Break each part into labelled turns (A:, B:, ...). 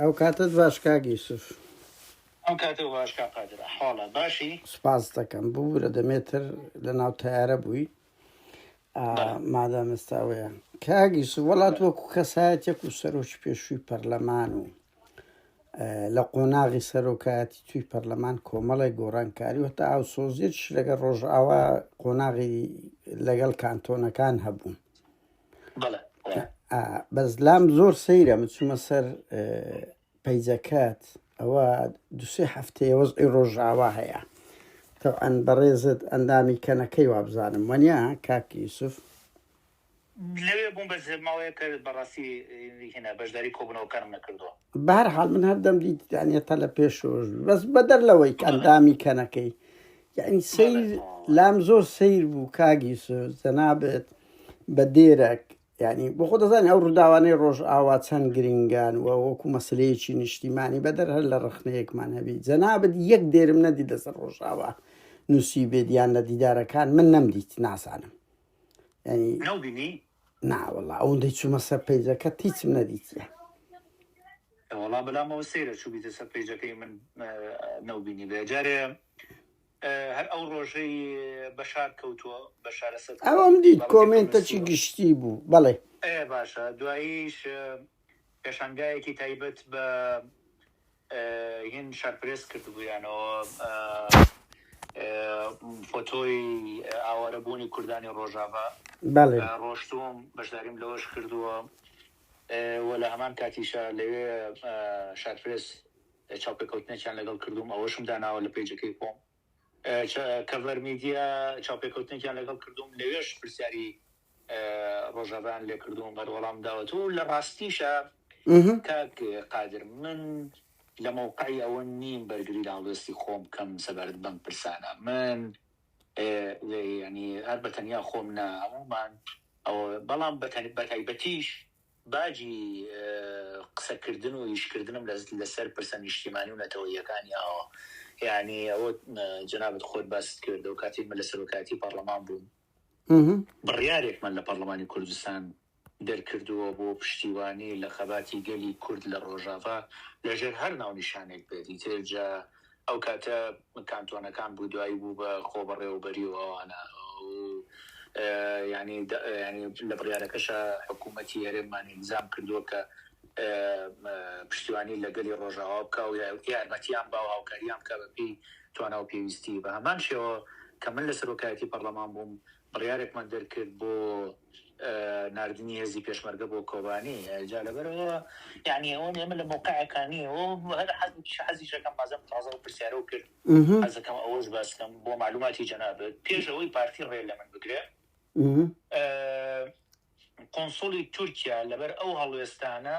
A: ئەو کاتەت باش کاک یوسف. ئەو
B: کاتەو باش کاک قادر ئەحواڵە باشی. سپاست دەکەم
A: ببورە دەمێ تر لە ناو تەیارە بووی مادام ئێستا ئەوەیە کاک یوسف وەڵا تۆ وەکو کەسایەتێک و سەرۆکی پێشووی پەرلەمان و لە قۆناغی سەرۆکایەتی توی پەرلەمان کۆمەڵی گۆڕانکاری وەتا ئاو سۆزیێتش لەگەڵ ڕۆژئاوا قۆناغی لەگەڵ کانتۆنەکان هەبوو بەس لام زۆر سەیرە من چوومە سەر پەیجەکەت ئەوە دوسێ هەفتەیە وەزئی ڕۆژاوا هەیە تەعاان بەڕێزت ئەندامی کەنەکەی وابزانم وەنیا کاکی یوسف
B: لەوێ بووم بە زماوەیە کە بەڕاستی هێنا بەشداری کۆبنەوەکانم نەکردووە بارحاڵ من هەردەم
A: دیتانە تە لە پێشۆش بەس بەدەر لەوەی ئەندامی کەنەکەی یانی سەیر لام زۆر سەیر بوو کاک یوسف جەنابت بە دێرەک یعنی بۆ خۆ دەزانانی ئەو ڕووداوانەی ڕۆژئاوا چەند گرنگان و وەکو مەسلەیەکی نیشتیمانی بەدەر هەر لە ڕخنەیەکمان هەبی جەنابەت یەک دێرم نەدی لەسەر ڕۆژاوا نووسی بێدیان لە دیدارەکان من نەمدیت ناسانم
B: ناوەڵا
A: ئەوەندەی چوومە سەر پەیجەکەت هیچم نەدیتیە.
B: وەڵا بەلامەوە سەیرە چوبیتە سەر پەیجەکەی من نەوبینی بێ جارێ هەر ئەو ڕۆژەی بەشار کەوتووە بەشارە سەر ئەوم دیت کۆمێنتەکی
A: گشتی بوو بەڵێ باشە
B: دواییش پێشانگایەکی تایبەت بە هین شەرپرێس کردبوویانەوە فۆتۆی ئاوارە بوونی کوردانی ڕۆژاڤا ڕۆشتووم بەشداریم لەوەش کردووە وە لە هەمان کاتیشە لەوێ شارپرێس چاوپێکەوتنێکیان لەگەڵ کردوم ئەوەشم داناوە لە پێیجەکەی خۆم کەڤەر میدیا چاوپێکەوتنێکیان لەگەڵ کردووم لەوێش پرسیاری ڕۆژاڤیان لێ کردووم بەر وەڵام داوەت و لە ڕاستیشە کاک قادر من لە مەوقعی ئەوە نیم بەرگری لە هەڵوێستی خۆم بکەم سەبارەت بەم پرسانە من ینی هەر بەتەنیا خۆم نا هەمومان ئەوە بەڵام بەتەنی بەتایبەتیش باجی قسەکردن و ئیشکردنم لەسەر پرسە نیشتیمانی و نەتەوەییەکانی ئاوا. یەعنی ئەوە جەنابت خۆت باست کرد ئەو کاتەی من لە سەرۆکایەتی پارلەمان بووم، بڕیارێکمان لە پارلەمانی کوردستان دەرکردووە بۆ پشتیوانی لە خەباتی گەلی کورد لە ڕۆژاڤا لەژێر هەر ناونیشانێک بێت، ئیتر جا ئەو کاتە کانتۆنەکان بودایی بوو بە خۆبەڕێوەبەری و ئەوانە و یانی یانی لە بڕیارەکەشا حکوومەتی هەرێممان ئیلزام کردووە کە پشتیوانی لە گەلی ڕۆژاوا بکا و یارمەتییان با و هاوکارییان بکا بەپێی توانا و پێویستی. بە هەمان شێوە کە من لە سەرۆکایەتی پەڕڵەمان بووم بڕیارێکمان دەرکرد بۆ ناردنی هێزی پێشمەرگە بۆ کۆبانی جا لەبەرئەوە یانی ئەوە ئێمە لە مەوقعێکا نین و هەر حەزێکی حەزیش ئەکەم بازم تازە ئەو پرسیارەو کرد حەزەکەم ئەوەش باس کەم بۆ مەعلوماتی جەنابت پێش ئەوەی پارتی ڕێ لە من بگرێ قۆنسڵی تورکیا لەبەر ئەو هەڵوێستانە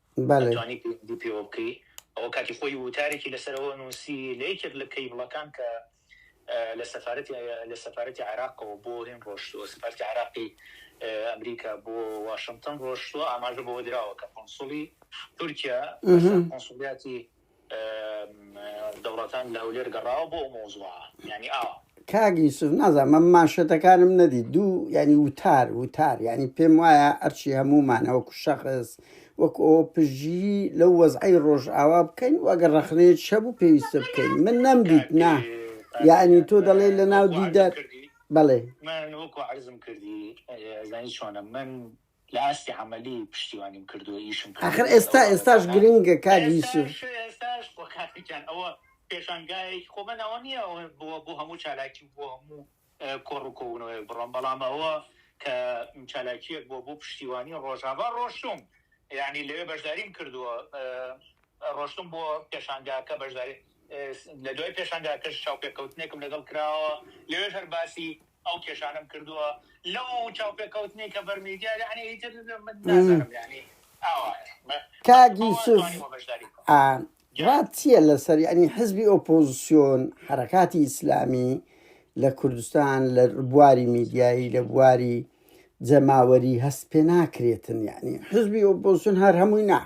B: بەڵێ. ئەتوانی پەیوەندی پێوە بکەی. ئەوە کاتی خۆی ووتارێکی لەسەر ئەوە نووسی لە یەکێک لە کەیبڵەکان کە لە سەفارەتی لە سەفارەتی عێراقەوە بۆ هین ڕۆشتووە سەفارەتی عێراقی ئەمریکا بۆ واشنتن ڕۆشتووە ئاماژە بەوە دراوە کە قونسوڵی تورکیا لەسەر قونسوڵیاتی دەوڵەتان لە هەولێر گەڕاوە بۆ ئەو مەوزوعە یانی ئاوا. کاک یوسف
A: نازانم مانشێتەکانم نەدی دوو ینی وتار وتار ینی پێم وایە ئەرچی هەمومانەوە کوشەخص وەک ئەو پژگیری لەو وەزعی ڕۆژئاوا بکەین و ئەگەر ڕخنەیە چە بوو پێویستە بکەین من نەمدیت نا یعنی تۆ دەڵێ لە ناو دیدە بەڵێ من وەکو عرزم کردی زانی
B: چۆنە من لە ئاستی عەمەلی پشتیوانیم کردووە ئیشم ئاخر کردووە ئێستا لەگەڵ ئێستاش
A: ئەوانە گرنگە کاک یوسف ئێستاش ئێستاش خۆ
B: کاکە گیان ئەوە پێشانگایەکی خۆ من ئەوە نییە ئەوە بۆ بۆ هەموو چالاکی و بۆ هەموو اه، کۆڕ و کۆبوونەوەیەک بڕۆم بەڵام ئەوە کە چالاکیەک بۆ بۆ پشتیوانی ڕۆژاڤا ڕۆشتوم یعنی لەوێ بەشداریم کردووە اه، ڕۆشتم بۆ پێشانگاکە بەشداری لە دوای پێشانگاکەش چاوپێکەوتنێکم لەگەڵ کراوە لەوێش هەر باسی ئەو
A: کێشانەم کردووە لەو چاوپێکەوتنەی کە بەر میدیا یانی ئیتر من نازانم یانی کاک یوسف ڕات چییە لەسەر یعنی حزبی ئۆپۆزیسیۆن حرەکاتی ئیسلامی لە کوردستان لە بواری میدیایی لە بواری جەماوەری هەست پێ ناکرێتن یعنی حزبی ئۆپۆزیسیۆن هەر هەمووی نا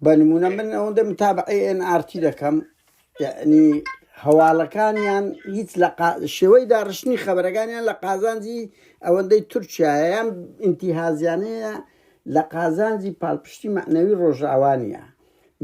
A: بە نمونە من ئەوەندە متابعی ئێن ئارتی دەکەم یعنی هەواڵەکانیان هیچ لە شێوەی داڕشتنی خەبەرەکانیان لە قازانجی ئەوەندەی تورکایان ئینتیهازیانەیە لە قازانجی پاڵپشتی معنەوی ڕۆژاوانە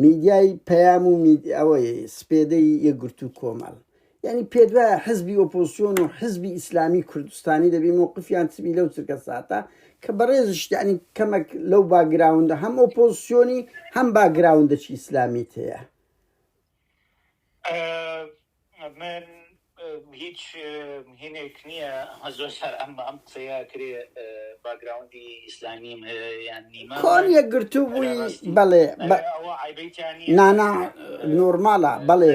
A: میدیای پەیام و ئەوەی سپێدەی یەگرتو کۆمەڵ یانی پێدوایە حزبی ئۆپۆسیۆن و حزبی ئیسلامی کوردستانی دەبی مووقفیان چبی لەو چرکە ساتە کە بەڕێزشتیانی کەمەک لەو باگراوندا هەم ئۆپۆسیۆنی هەم باگراوندەچی ئیسلامیت هەیە من هیچ هینێک نییە هەزۆر سەر
B: ئەم ئەم قسەیە کرێ باگراوندی ئیسلامیم هەیە یان نیمە کۆن یەکگرتوو بووی
A: بەڵێ نانا نۆرمالە بەڵێ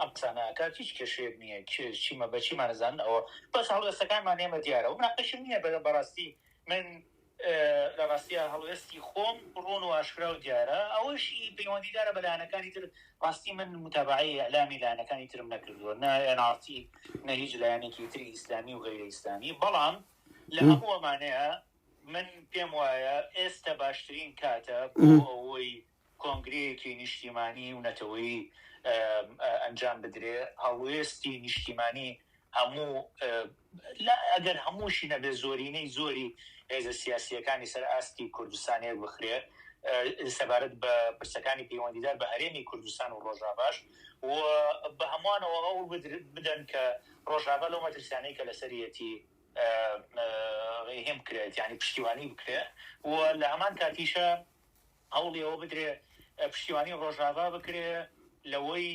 B: ئەم قسانە ئەکات هیچ کێشەیەک نیە کێ چیمە بە چیمان ئەزانن ئەوە بەس هەڵوێستەکانمان ئێمە دیارە و مناقەشم نیە بە بەڕاستی من لە ڕاستیا هەڵوێستی خۆم ڕوون و ئاشکرا و دیارە ئەوەشی پەیوەندیدارە بە لایەنەکانی تر ڕاستی من متابەعەی ئیعلامی لایەنەکانی ترم نەکردووە نە ئێن ئاڕ تی نە هیچ لایەنێکی تری ئیسلامی و غەیرە ئیسلامی بەڵام لە هەموو ئەمانەیە من پێم وایە ئێستە باشترین کاتە بۆ ئەوەی کۆنگرەیەکی نیشتیمانی و نەتەوەیی ئەنجام بدرێ، هەڵوێستی نیشتیمانی هەموو، ئەگەر هەمووشی نەبێ زۆرینەی زۆری هێزە سیاسییەکانی سەر ئاستی کوردستان یەک بخرێ سەبارەت بە پرسەکانی پەیوەندیدار بە هەرێمی کوردستان و ڕۆژاڤاش و بە هەموانەوە هەوڵ بدەن کە ڕۆژاڤا لەو مەترسیانەی کە لەسەریەتی ڕێهێم بکرێت یانی پشتیوانی بکرێ و لە هەمان کاتیشا هەوڵی ئەوە بدرێ پشتیوانی ڕۆژاڤا بکرێ لەوەی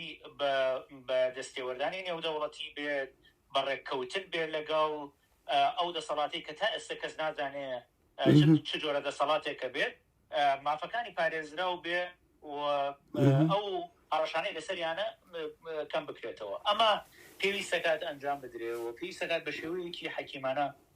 B: بە دەستێوەردانی نێودەوڵەتی بێت، بە ڕێککەوتن بێت لەگەڵ ئەو دەسەڵاتەی کە تا ئێستە کەس نازانێ چ جۆرە دەسەڵاتێکە بێت، مافەکانی پارێزراو بێ و ئەو هەڕەشانەی لەسەریانە کەم بکرێتەوە. ئەمە پێویست دەکات ئەنجام بدرێ و پێویست دەکات بە شێوەیەکی حەکیمانە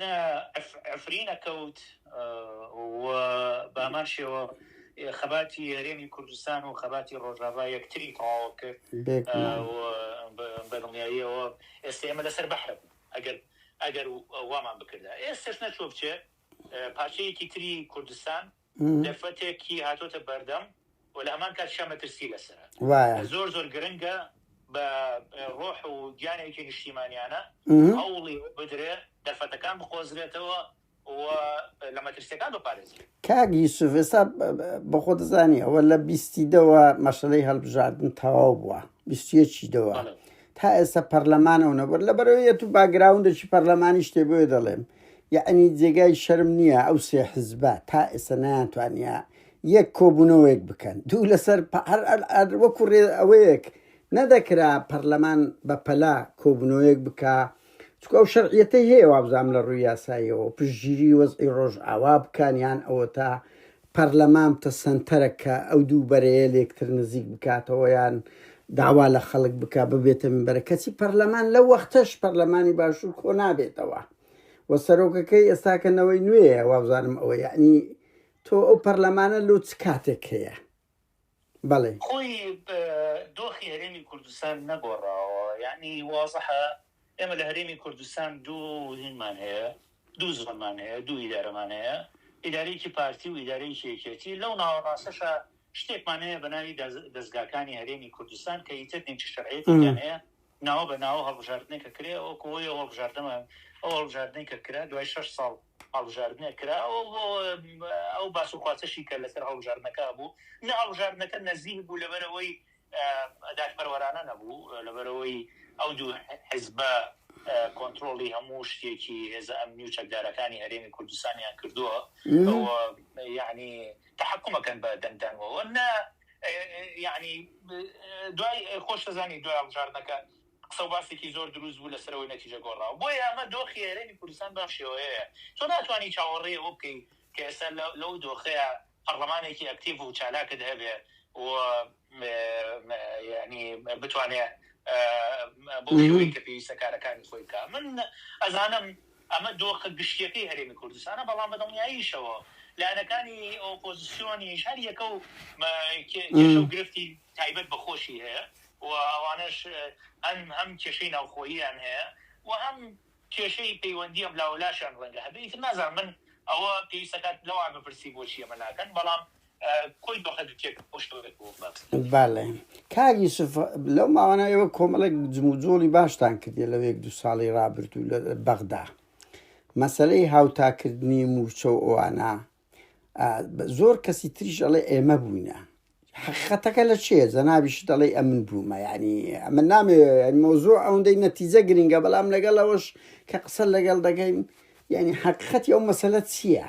B: نە عەفرینە کەوت و بەهەمان شێوە خەباتی هەرێمی کوردستان و خەباتی ڕۆژاڤا یەکتری تەواو کرد بەدڵنیاییەوە ئێستا ئێمە لەسەر بەحرە بوو ئەگەر ئەگەر وامان بکردا ئێستش نەچۆ بچێ پارچەیەکی تری کوردستان دەرفەتێکی هاتۆتە بەردەم و لە هەمان کاتیشا مەترسی لەسەرە وایە زۆر زۆر گرنگە بە ڕۆح و گیانێکی نیشتیمانیانە هەوڵی بدرێ دەرفەتەکان بقۆزرێتەوە و لە
A: مەترسیەکان بپارێزی کاک یوسف ئێستا بە خۆ دەزانی ئەوە لە بیستی دەوە مەشەلەی هەڵبژاردن تەواو بووە بیستیەکی دەوە بەڵێ. تا ئێستا پەرلەمانەوە نەبەر لەبەرەوەیەت و باگراوندێکی پەرلەمانی شتێ بۆیە دەڵێم یەعنی جێگای شەرم نیە ئەو سێ حزبە تا ئێستا نەیانتوانیە یەک کۆبونەوەیەک بکەن دوو لەسەر پا هەر ئەر ئەر وەکو رێ ئەوەیەک نەدەکرا پەرلەمان بە پەلە کۆبونەوەیەک بکا چونکە ئەو شەرعیەتەی هەیە وابزانم لە روی یاساییەوە پشتگیری وەزعی رۆژئاوا بکەن یان ئەوەتا پەرلەمان بتە سەنتەرەک کە ئەو دوو بەرەیە لێکتر نزیک بکاتەوە یان داوا لە خەڵک بکا ببێتە مینبەرە کەچی پەرلەمان لەو وەختەش پەرلەمانی باشوور کۆ نابێتەوە و سەرۆکەکەی ئێستاکە نەوەی نوێیە وابزانم ئەوە یعنی تۆ ئەو پەرلەمانە لۆ چ کاتێک هەیە بەڵێ. خۆی
B: دۆخی هەرێمی کوردستان نەگۆڕاوە، یەعنی وازحە ئێمە لە هەرێمی کوردستان دوو هینمان هەیە، دوو زۆنمان هەیە، دوو ئیدارەمان هەیە، ئیدارەیەکی پارتی و ئیدارەیەکی یەکێتی، لەو ناوەڕاستەشا شتێکمان هەیە بە ناوی دەزگاکانی هەرێمی کوردستان کە ئیتر نیمچە شەرعیەتێکیان هەیە، ناوە بە ناوە هەڵبژاردنێک کە کرێ ئەوە کۆ ئەو هەڵبژاردەمان ئەو هەڵبژاردنەی کە کرا دوای شەش ساڵ هەڵبژاردنێک کرا ئەو باس و خواسەشی کە لەسەر هەڵبژاردنەکە بوو نە هەڵبژاردنەکە نەزیک بوو لەبەرەوەی دادپەروەرانە نەبوو لەبەرەوەی ئەو دوو حزبە کۆنتترۆڵی هەموو شتێکی هێزە ئەمنی و چەکدارەکانی هەرێمی کوردستانیان کردووە یعنی تحکومەکەن بە دەنگدانەوە نە یەعنی دوای خۆشت ئەزانی دوای هەڵبژاردنەکە قسە و باسێکی زۆر دروست بوو لەسەرەوەی نەتیجە گۆڕاوە بۆیە ئەمە دۆخی هەرێمی کوردستان بەم شێوەیەیە تۆ ناتوانی چاوەڕێی ئەوە بکەی کە ئێستا لەو دۆخەیا پەڕڵەمانێکی ئەکتیڤ و چالاکت هەبێ و یەعنی بتوانێ بەو شێوەی کە پێویستە کارەکانی خۆی بکا من ئەزانم ئەمە دۆخە گشتییەکەی هەرێمی کوردستانە، بەڵام بەدڵنیاییشەوە لایەنەکانی ئۆپۆزسیۆنیش هەر یەکە و کێشە و گرفتی تایبەت بە خۆشی هەیە و ئەوانەش هەن هەم کێشەی ناوخۆییان هەیە و هەم کێشەی پەیوەندی ئەملاوەلاشیان ڕەنگە هەبێ، ئیتر نازانم من ئەوە پێویست ئەکات لەوان بپرسی بۆچی ئەمە ناکەن، بەڵام کۆی دۆخە دوکێک ئەو شتەوەێک بۆ
A: بڵات بەڵێ کار یوسف لەو ماوانە ئێوە کۆمەڵێک جموجۆڵی باشتان کردێ لەو یەک دو ساڵی رابرردوو لە بەغدا مەسلەی هاوتاکردنی موچە و ئەوانە زۆر کەسی تریش ئەڵێ ئێمە بووینە حقیقەتەکە لە چێ زەناویش دەڵێ ئەمن بوومە ینی ئەمە نامێ مۆزۆ ئەوەندەی نەتیجە گرنگە بەڵام لەگەڵ ئەوەش کە قسە لەگەڵ دەگەین ینی حقیقەتی ئەو مەسەلە چییە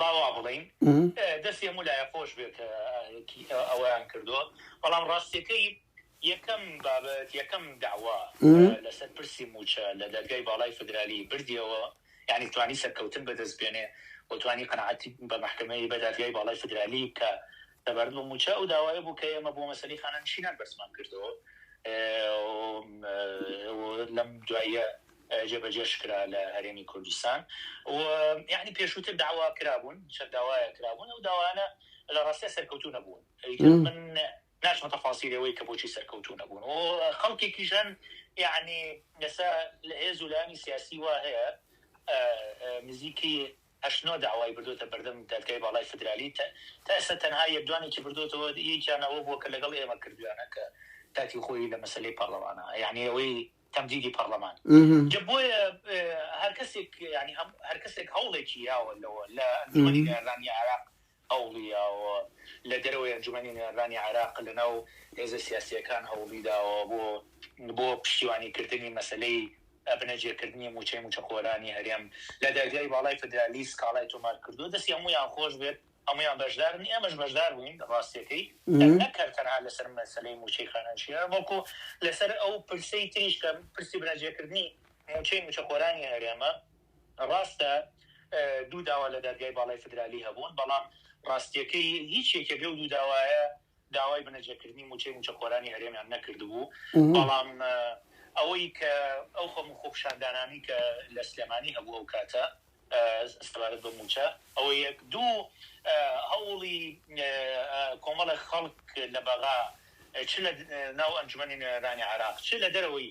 B: با وا بڵێین دەستی هەموو لایە خۆش بێت کە ئەوەیان کردووە بەڵام ڕاستیەکەی یەکەم بابەت یەکەم داوا لەسەر پرسی موچە لە دەرگای باڵای فدرالی بردیەوە یعنی توانی سەرکەوتن بەدەست بێنێ وتوانی قەنعاتی بە محکمەی بە دادگای باڵای فدرالی کە لەبارەت بە مووچە، ئەو داوای بوو کە ئێمە بۆ مەسەلەی خانەنشینان بەرزمان کردەوە و لەم دواییە جێبەجێش کرا لە هەرێمی کوردستان و یەعنی پێشووتر داوا کرابوون، چەند داوایەک کرابوون، ئەو داوایانە لە ڕاستیا سەرکەوتوو نەبوون. ئیتر من ناچمە تەفاسیل ئەوەی کە بۆچی سەرکەوتوو نەبوون و خەڵکێکیش هەن یەعنی ئێستا هێز و لایەنی سیاسی وا هەیە نزیکی هەشت نۆ داوای بردۆتە بەردەم دادگای باڵای فیدرالی تا ئێستا تەنها یەک دوانێکی بردۆتەوە یەکیان ئەوە بووە کە لەگەڵ ئێمە کردویانە کە کاتی خۆی لە مەسەلەی پارلەمانە یەعنی ئەوەی تەمدیدی پارلەمان جا بۆیە هەرکەسێک یەعنی هەموو هەرکەسێک هەوڵێکی یاوە لەوە لە ئەنجومەنی نێررانی عێراق هەوڵیداوە لە دەرەوەی ئەنجومەنی نوێنەرانی عێراق لەناو هێزە سیاسییەکان هەوڵیداوە بۆ پشتیوانیکردنی مەسەلەی بنەجێکردنی مووچەی مووچەخۆرانی هەرێم لە دادگای باڵای فیدرالی سکاڵای تۆمارکردووە، دەستی هەموویان خۆش بێت هەموویان بەشدارن ئێمەش بەشداربووین راستییەکەی نەک هەر تەنها لەسەر مەسەلەی مووچەی خانەنشینان بەڵکو لەسەر ئەو پرسەی تریش کە پرسی بنەجێکردنی مووچەی مووچەخۆرانی هەرێمە ڕاستە دوو داوا لە دادگای باڵای فیدرالی هەبوون، بەڵام ڕاستییەکەی هیچ یەکێک لەو دوو داوایە داوای بنەجەکردنی مووچەی مووچەخۆرانی هەرێمیان نەکردبوو، بەڵام ئەوەی کە ئەو خەم و خۆپیشاندانانەی کە لە سلێمانی هەبوو ئەو کاتە سەبارەت بە مووچە ئەوە یەک دوو هەوڵی کۆمەڵێک خەڵک لە بەغا چ لە ناو ئەنجومەنی نوێنەرانی عێراق چ لە دەرەوەی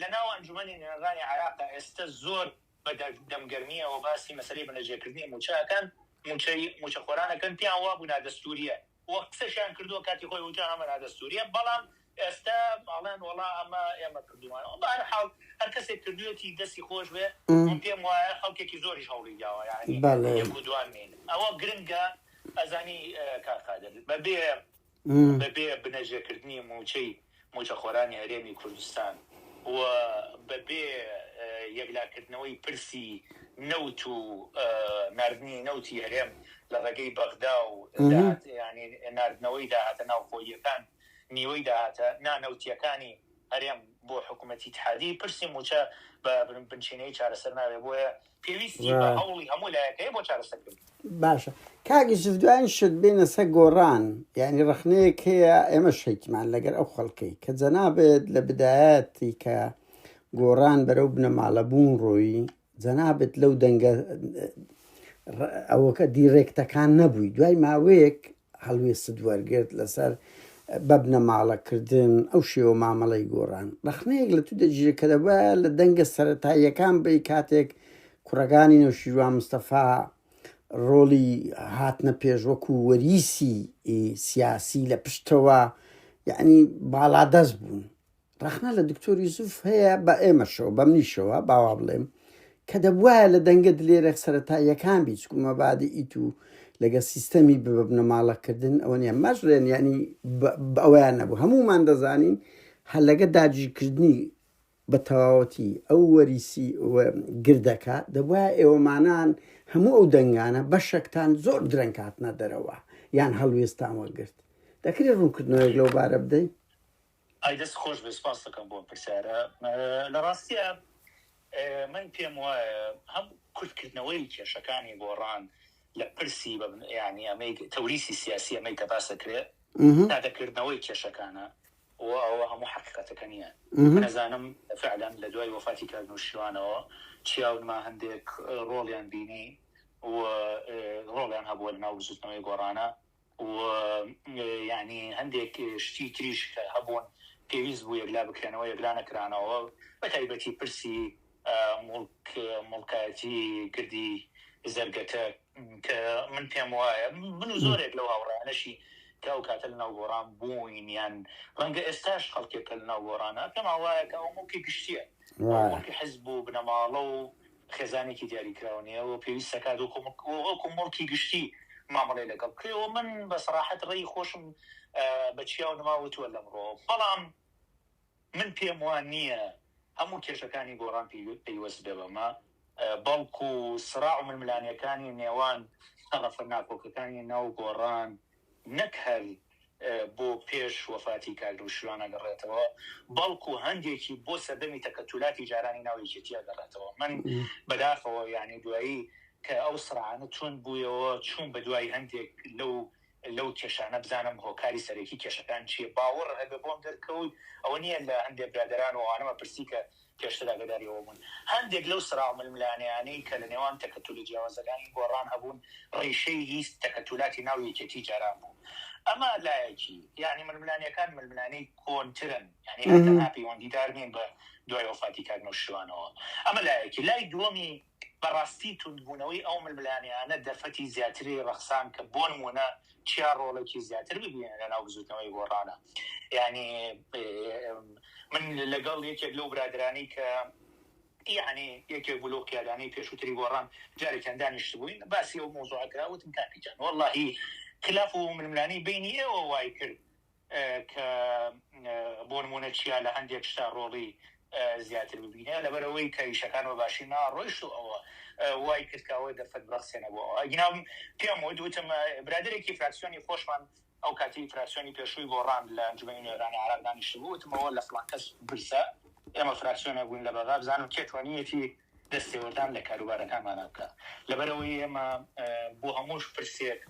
B: لە ناو ئەنجومەنی نوێنەرانی عێراقدا ئێستە زۆر بە دەم گەرمییەوە باسی مەسەلەی بەنرجێکردنی مووچە ئەکەن، مووچەی مووچەخۆران ئەکەن، پێیان وابوو نادەستوورییە و قسەشیان کردووە کاتی خۆی وتیان ئەمە نادەستوورییە، بەڵام ئێستە ئەڵێن وەڵا ئەمە ئێمە کردوومانەوە. بە هەر حاڵ هەر کەسێک کردوویەتی دەستی خۆش بێ، من پێم وایە خەڵکێکی زۆریش هەوڵی داوە یانی یەک و دووان نین. ئەوە گرنگە ئەزانی کاک قادر بە بێ. بەبێ بنەژەکردنی مووچەی مووچەخۆرانی هەرێمی کوردستان و بەبێ یەکلاکردنەوەی پرسی نەوت و ناردنی نەوتی هەرێم لە ڕێگەی بەغدا و ناردنەوەی داهاتە ناوخۆییەکان نیوەی داهاتە نانەوتییەکانی هەرێم بۆ حکوومەتی ئیتحادی، پرسی مووچە بە بنچینەیی چارەسەر نابێت، بۆیە پێویستی بە هەوڵی هەموو لایەک هەیە بۆ چارەسەرکردنی. باشە
A: کاک یوسف دوایین شت بێنە سەر گۆڕان یعنی ڕەخنەیەک هەیە ئێمە شەیتمان لەگەر ئەو خەڵکەی کە جەنابێت لە بدایەتی کە گۆڕان بەرەو بنەماڵە بوون ڕۆیی جەنابێت لەو دەنگە ئەوەکە دیڕێکتەکان نەبووی دوای ماوەیەک هەڵوێستت وەرگرت لەسەر بە بنەماڵە کردن ئەو شێوە مامەڵەی گۆڕان ڕەخنەیەک لە تو دەگیرێت کە دەبە لە دەنگە سەتاییەکان بی کاتێک کوڕەکانی نەوشیروان مستەفا ڕۆڵی هاتنە پێش وەکو وەریسی سیاسی لە پشتەوە یعنی باڵادەست بوون ڕەخنە لە دکتۆر یوسف هەیە بە ئێمەشەوە بە منیشەوە باوا بڵێم کە دەبواە لە دەنگە دلێرە سەرەتا یەکان بی چکو مەبادی ئیت و لەگە سیستەمی ببنە ماڵەکردن ئەوە نیە مەش لێن ینی ئەویان نەبوو هەمومان دەزانین هەر لەگە داگیرکردنی بە تەواوەتی ئەو وەریسی گردەکە دەبواە ئێوەمانان هەموو ئەو دەنگانە بەشەکتان زۆر درەنکاتنە دەرەوە یان هەڵوێستان وەگرت دەکرێت ڕوونکردنەوەی لەو بارە بدەین ئای دەست
B: خۆش بێت سوپاس دەکەم بۆ ئەم پرسیارە لە ڕاستیە من پێم وایە هەم کورتکردنەوەی کێشەکانی گۆڕان لە پرسی یعنی ئەمەی تەوریسی سیاسی ئەمەی کە باس دەکرێت نادەکردنەوەی کێشەکانە و ئەوە هەموو حقیقەتەکە نییە نەزانم فعلەن لە دوای وەفاتی کار نووشیوانەوە چیاونما هەندێک ڕۆڵیان بینی و ڕۆڵیان هەبووە لە ناو بزوتنەوەی گۆڕانە و یانی هەندێک شتی تریش کە هەبوون پێویست بوو یەکلا بکرێنەوە یەکلا نەکرانەوە بە تایبەتی پرسی موڵک موڵکایەتی گردی زەرگەتە کە من پێم وایە من و زۆرێک لەو هاوڕانەشی کە ئەو کاتە لە ناو گۆڕان بووین یان ڕەنگە ئێستاش خەڵکێکە لە ناو گۆڕانە پێم وایە کە ئەو موڵکی گشتیە موڵکی حزب و بنەماڵە و خێزانێکی دیاریکراو نیە و پێویست دەکات وەکو موڵکی گشتی مامەڵەی لەگەڵ بکرێت و من بە سەراحەت ڕێی خۆشم بە چیا و نما وتوە لەمڕۆ بەڵام من پێم وا نیە هەموو کێشەکانی گۆڕان پەیوەست بێ بەمە بەڵکو سڕاع و ململانێکانی نێوان تەڕەفە ناکۆکەکانی ناو گۆڕان نەک هەر بۆ پێش وەفاتی کاک نەوشیروان ئەگەڕێتەوە، بەڵکو هەندێکی بۆ سەردەمی تەکەتولاتی جارانی ناو یەکێتی ئەگەڕێتەوە. من بەداخەوە یانی دوایی کە ئەو سڕانە توند بویەوە، چوم بەدوای هەندێک لەو لەو کێشانە بزانم هۆکاری سەرەکی کێشەکان چیە. باوەڕ هەبێ بۆم دەرکەوت ئەوە نیە لە هەندێ برادەران و ئەوانەمە پرسی کە پێشتر ئاگاداری ئەوە بوون هەندێک لەو سراو ململانێیانەی کە لە نێوان تەکەتولە جیاوازەکانی گۆڕان هەبوون ڕیشەی هی تەکەتولاتی ناو یەکێتی جاران بوو ئەمە لایەکی یانی ململانێکان ململانێی کۆنترن یانی هەر تەنها پەیوەندیدار نین بە دوای وەفاتی کاک نەوشیروانەوە ئەمە لایەکی لای دووەمی بەڕاستی توندبوونەوەی ئەو ململانێیانە دەرفەتی زیاتری ڕەخساند کە بۆ نموونە چیا ڕۆڵێکی زیاتر ببینێت لە ناو بزووتنەوەی گۆڕانە یانی من لەگەڵ یەکێک لەو برادرانی کە یعنی یەکێک بوو لەو قیادانەی پێشووتری گۆڕان جارێکیان دانیشتبووین باسی ئەو مۆزوعەکە وتم کاکیجان وەڵڵاهی خلاف و ململانێی بینی ئێوە وای کرد کە بۆ نموونە چیا لە هەندێک شتا ڕۆڵی زیاتر ببینێ لەبەر ئەوەی کە ئیشەکان بە باشی ناڕۆیشت و ئەوە وای کرد کە ئەوە دەرفەت بڕەخسێنە بۆ ئەوە ئەگینا پێم وت وتم برادەرێکی فراکسیۆنی خۆشمان ئەو کاتی فراکسیۆنی پێشووی گۆڕان لە ئەنجومەنی نوێنەرانی عێراق دانیشتبوو وتمەوە لە فڵان کەس بپرسە ئێمە فراکسیۆنێک بووین لە بەغا بزانم کێ توانیویەتی دەستێوەردان لە کاروبارەکانمانە بکا لەبەر ئەوەی ئێمە بۆ هەموو پرسێک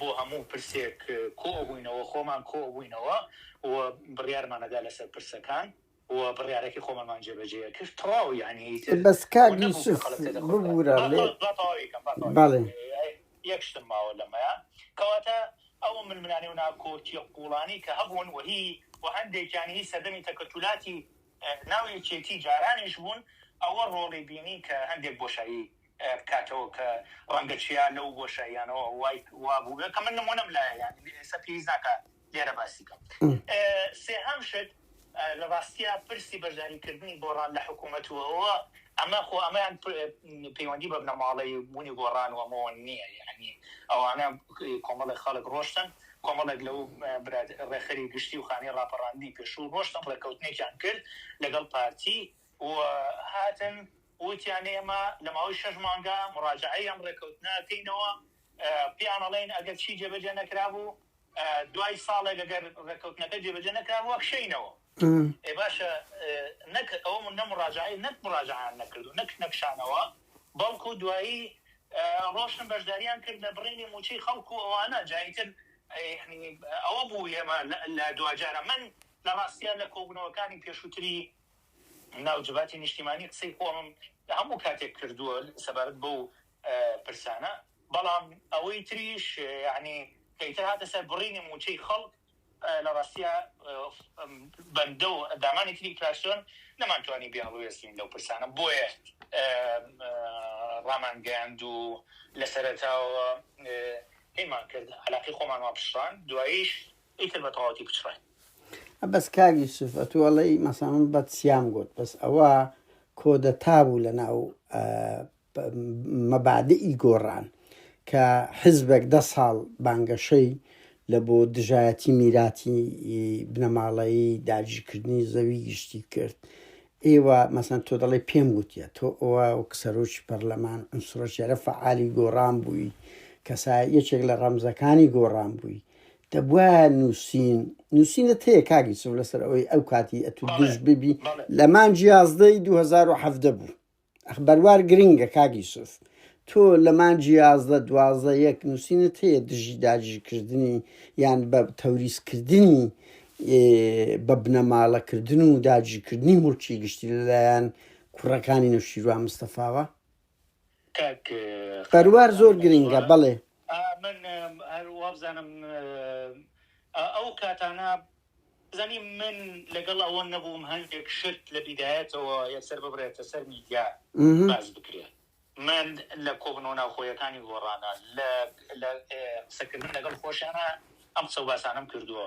B: بۆ هەموو پرسێک کۆبووینەوە، خۆمان کۆبووینەوە و بڕیارمان ئەدا لەسەر پرسەکان و بڕیارەکەی خۆمانمان جێبەجێ ئەکرد. تەواو یانی ئیتر بەس کاک ونەبوو کە یوسف
A: خەڵک تێ دەکۆشا. ببورە با لێ با تەواوی بکەم با تەواوی بکەم. بەڵێ.
B: یەک شتم ماوە لەمەیا. کەواتە ئەو ململانێ و ناکۆکییە قووڵانەی کە هەبوون و هی و هەندێکیان هی سەردەمی تەکەتولاتی ناو یەکێتی جارانیش بوون، ئەوە ڕۆڵی بینی کە هەندێک بۆشایی بکاتەوە کە ڕەنگە چیا لەو بۆشاییانەوە وای وا بووبێت کە من نموونەم لایە یانی ئێستا پێویست ناکا لێرە باسی کەم سێهەم شت لە ڕاستیا پرسی بەشداری کردنی گۆڕان لە حکوومەت و ئەوە ئەمە خۆ ئەمەیان پەیوەندی بە بنەماڵەی بوونی گۆڕان و ئەمەوە نییە یانی ئەوانە کۆمەڵێک خەڵک ڕۆشتن کۆمەڵێک لەو براد ڕێخەری گشتی و خانی ڕاپەڕاندنی پێشوو ڕۆشتن ڕێککەوتنێکیان کرد لەگەڵ پارتی و هاتن وتیان ئێمە لە ماوەی شەش مانگا موراجەعەی ئەم ڕێکەوتنە ئەکەینەوە، پێیان ئەڵێین ئەگەر چی جێبەجێ نەکرابوو دوای ساڵێک ئەگەر ڕێکەوتنەکە جێبەجێ نەکرابوو ئەکشێینەوە. ئێ باشە نەک ئەوە نە موراجەعەی نەک موراجەعەیان نەکرد و نەک نەکشانەوە بەڵکو دوایی ڕۆشتن بەشداریان کرد لە بڕینی مووچەی خەڵک و ئەوانە جا ئیتر ئەوە بوو ئێمە لە دواجارە من لە ڕاستیا لە کۆبوونەوەکانی پێشووتری ناو جڤاتی نیشتیمانی قسەی خۆمم لە هەموو کاتێک کردووە سەبارەت بەو پرسانە، بەڵام ئەوەی تریش یەعنی کە ئیتر هاتە سەر بڕینی مووچەی خەڵک لە ڕاستیا بەندە و ئەندامانی تری فراکسیۆن نەمانتوانی بیانڵوێستین لەو پرسانە بۆیە ڕامانگەیاند و لە سەرەتاوە هەیمان کرد عەلاقەی خۆمان وا پچڕاند دواییش ئیتر بە تەواوەتی پچڕاین. بەس
A: کاک یوسف ئەتوو ئەڵێی مەسەڵەن من بەت سیام گوت بەس ئەوە کۆدەتا بوو لە ناو ئە، پ- مەبادئی گۆڕان کە حزبێک دە ساڵ بانگەشەی لە بۆ دژایەتی میراتی ی بنەماڵەیی داگیرکردنی زەوی گشتی کرد ئێوە مەسەن تۆ دەڵێ پێم گوتیە تۆ ئەوە وەک سەرۆکی پەرلەمان ئەم سڕۆکێرە فعالی گۆڕان بووی کەسا یەکێک لە ڕەمزەکانی گۆڕان بووی دەبوایە نوسین نوسینت هەیە کاک یوسف لەسەر ئەوەی ئەو کاتی ئەتو بەڵێ دژ ببی بەڵێ لە مانجی یازدەی 2017 بوو ئەخ بەروار گرنگە کاک یوسف تۆ لە مانجی یازدە دوازدە یەک نووسینت هەیە دژی داگیرکردنی یان بە تەوریزکردنی ئێ، بە بنەماڵەکردن و داگیرکردنی مڵکی گشتی لەلایەن کوڕەکانی نەوشیروان مستەفاوە کاک سەروار زۆر گرینگە بەڵێ. من
B: هەر وابزانم ئەو کاتانە بزانی من لەگەڵ ئەوە نەبووم هەندێک شت لە بیدایەتەوە یەکسەر ببرێتە سەر میدیا مهم. باز بکرێت من لە کۆبنەوە ناوخۆیەکانی گۆڕانە لە لە اه، قسەکردن لەگەڵ خۆشیانە ئەم قسە و باسانەم کردووە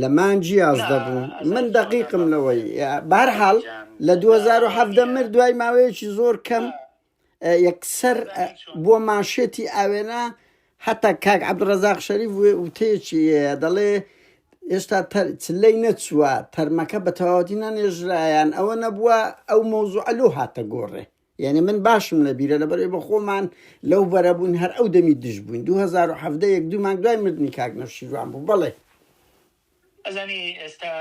A: لە مانگ یازدە نا بوو ئەزان من چۆن ئەزان دەقیقم بابە لەوەی سەرەتا بە هەر حاڵ جان لە دوو جا هەزار و ئەوەی حەڤدە کە مرد دوای ماوەیەکی زۆر کەم نا اه، یەکسەر ئەزان اه، هی چۆن بووە مانشێتی ئاوێنە هەتا کاک عەبدولڕەزاق شەریف وێ- وتەیەکی هەیە دەڵێ هێشتا تەر چلەی نەچووە تەرمەکە بە تەواوەتی نەنێژرایان ئەوە نەبووە ئەو مەوزوعە لەو هاتە گۆڕێ یەعنی من باشم لە بیرە لەبەر ئەوەی بە خۆمان لەو بەرە بووین هەر ئەو دەمی دژ بووین دوو هەزار و حەڤدە یەک دوو مانگ دوای مردنی کاک نەوشیروان بوو بەڵێ.
B: ئەزانی ئێستا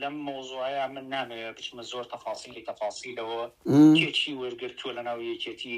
B: لەم مەوزوعەیا من نامەوێ بچمە زۆر تەفاسیلی تەفاسیلەوە کێ چی وەرگرتووە لەناو یەکێتی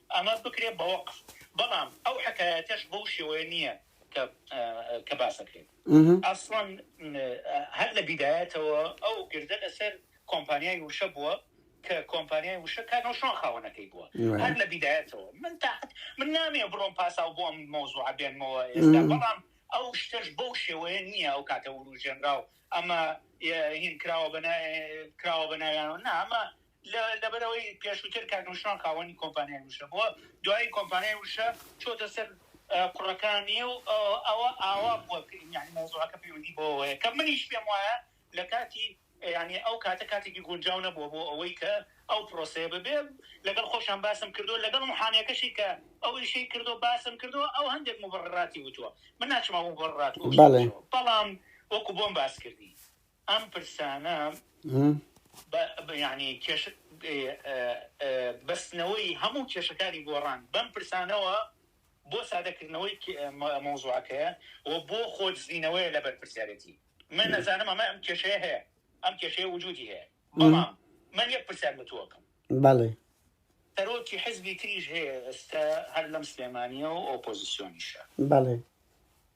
B: ئەمە بکرێت بە وەقف بەڵام ئەو حەکایەتەش بەو شێوەیە نییە کە کە باس دەکرێت ئەسڵەن هەر لە بیدایەتەوە ئەو گردە لەسەر کۆمپانیای وشە بووە کە کۆمپانیای وشە کاک هەڵشۆن خاوەنەکەی بووە هەر لە بیدایەتەوە من تاحت من نامێ بڕۆم پاساو بۆ ئەم مەوزوعە بێنمەوە ئێستا بەڵام ئەو شتەش بەو شێوەیە نییە ئەو کاتە وروژێنرا و ئەمە هین کراوە بە کراوە بە ناویانەوە نا ئەمە لەبەر ئەوەی پێشووتر کاک نوشروان خاوەنی کۆمپانیای وشە بووە، دوایی کۆمپانیای وشە چۆتە سەر کوڕەکانی و ئەوە ئاوا بووە کە یانی مەوزوعەکە پەیوەندی بەوە هەیە کە منیش پێم وایە لە کاتی یانی ئەو کاتە کاتێکی گونجاو نەبووە بۆ ئەوەی کە ئەو پرۆسەیە ببێ لەگەڵ خۆشیان باسم کردووە لەگەڵ محامیەکەشی کە ئەو ئیشەی کردووە باسم کردووە ئەو هەندێک موبڕڕاتی وتووە من ناچمەوە موبڕڕات بەڵێ بەڵام وەکو بۆم باس کردی ئەم پرسانە بە یانی کێش بەستنەوەی هەموو کێشەکانی گۆڕان بەم پرسانەوە بۆ سادەکردنەوەی مەوزوعەکەیە و بۆ خۆدزینەوەیە لە بەرپرسیارەتی من نەزانم ئەمە ئەم کێشەیە هەیە ئەم کێشەیە وجودی هەیە بەڵام من یەک پرسیار بەتوەکەم بەڵێ
A: سەرۆکی
B: حزبی تریش هەیە ئێستا هەر لەم سلێمانیە و ئۆپۆزیسیۆنیشە بەڵێ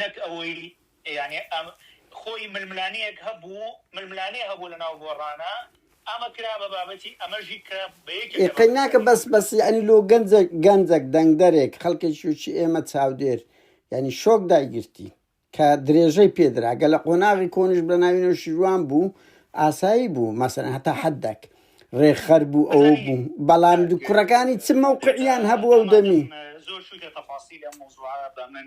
B: نەک ئەوەی یانی ئەم خۆی ململانێیەک هەبوو ململانێ هەبوو لەناو گۆڕانا ئەمە کرا بە بابەتی ئەمەژی کە بە یەکێک لە ئێقەی ناکە
A: بابەتەکانی بەس بەس یانی لۆ گەنجە گەنجەک دەنگدەرێک خەڵکێکی وچی ئێمە چاودێر یانی شۆک دایگرتی کە درێژەی پێ درا گە لە قۆناغی کۆنیش بە ناوی نەوشیروان بوو ئاسایی بوو مەسەن هەتا حدەک ڕێکخەر بوو ئەوە بەزانی بوو بەڵام دو کوڕەکانی چ مەوقعیان هەبوو ئەو دەمی زۆر شوی لە
B: تەفاسیل ئەم مەوزوعە بە من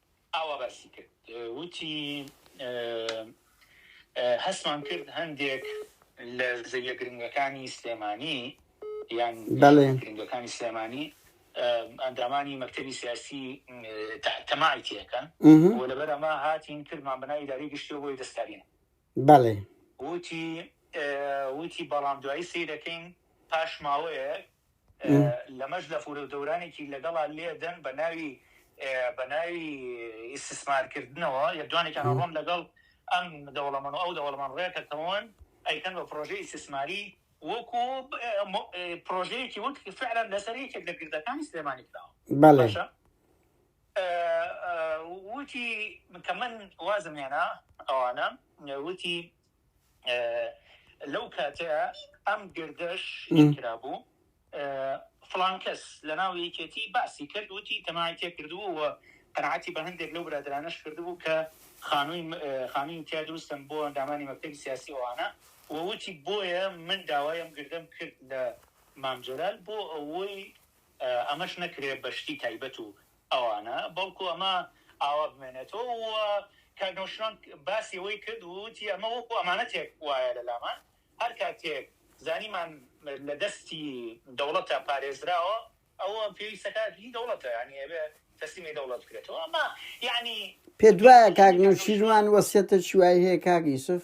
B: ئاوا باسی کرد وتی، هەستمان کرد هەندێک لە زەویە گرنگەکانی سلێمانی یان زەویە گرنگەکانی سلێمانی ئەندامانی مەکتەبی سیاسی تەماعی تێکەن و لەبەر ئەمە هاتین کردمان بە ناوی ئیدارەی گشتیەوە بۆی دەستکارین. بەڵێ.
A: وتی،
B: وتی بەڵام دوایی سەیرەکەین پاش ماوەیەک لەمەش لەفورەو دەورانێکی لەگەڵا لێدەن بەناوی بەناوی ئیستسمار کردنەوە لێدوانێکیان ئەڕۆن لەگەڵ ئەم دەوڵەمەنو ئەو دەوڵەمەن ڕێکەکەون ئەیکەن بە پرۆژەی ئیستسماری وەکو پرۆژەیەکی وەک فعلا لەسەر یەکێک لە گردەکانی سلێمانی کراوە بەڵێ وتی کە من وازم هێنا ئەوانە وتی لەو کاتەیە ئەم گردەش کرابوو فلانکەس لە ناو یەکێتی باسی کرد وتی تەمای تێ کردووە قەنعاتی بە هەندێک لەو برادرانەش کردبوو کە خانووی خانووی تیا دروستم بۆ ئەندامانی مەکتەبی سیاسی ئەوانە ووتی بۆیە من داوایم گردم کرد لە مامجلال بۆ ئەوەی ئەمەش نەکرێت بەشتی تایبەت و ئەوانە، بەڵکو ئەمە ئاوا بمێنێتەوە و کاک نەوشیروان باسی ئەوەی کرد و وتی ئەمە وەکو ئەمانەتێک وایە لە لامان، هەر کاتێک زانیمان لە دەستی دەوڵەتە پارێزراوە ئەوە پێویستەکە هی دەوڵەتە یانی ئەبێ تەسلیمی دەوڵەت بکرێتەوە ئەمە یانی. پێت وایە
A: کاک نەوشیروان وەسیەتەکی وای هەیە کاک یوسف؟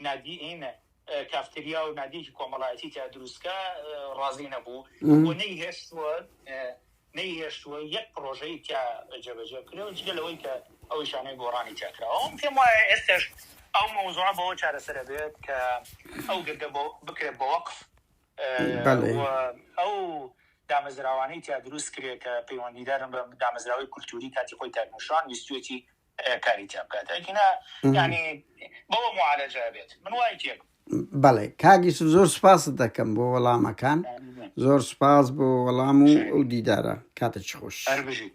B: نادیین کافتریا و نادیکی کۆمەڵایەتی تیا دروستکە ڕازی نەبوو و نەی هێشتووە نەی هێشتووە یەک پرۆژەی تیا جێبەجێ بکرێەوە جگە لەوەی کە ئەو شانەی گۆڕانی تیاکراوەم پێم وایە ئێستش ئەو مەوزوع بەوە چارەسەرە بێت کە ئەو گردە بۆ بکرێت بە وەقف ئەو دامەزراوانەی تیا دروست کرێت کە پەیوەندیدارن بە دامەزراوەی کولتوری کاتی خۆی تاکمشان ویستێتی کاری تیا بکات ئەگینا یانی بەوە معالەجە ئەبێت من وای تێ بەڵێ کاک
A: یوسف زۆر سوپاست دەکەم بۆ وەڵامەکان زۆر سوپاس بۆ وەڵام و ئەو دیدارە کاتێکی خۆش هەر بژیت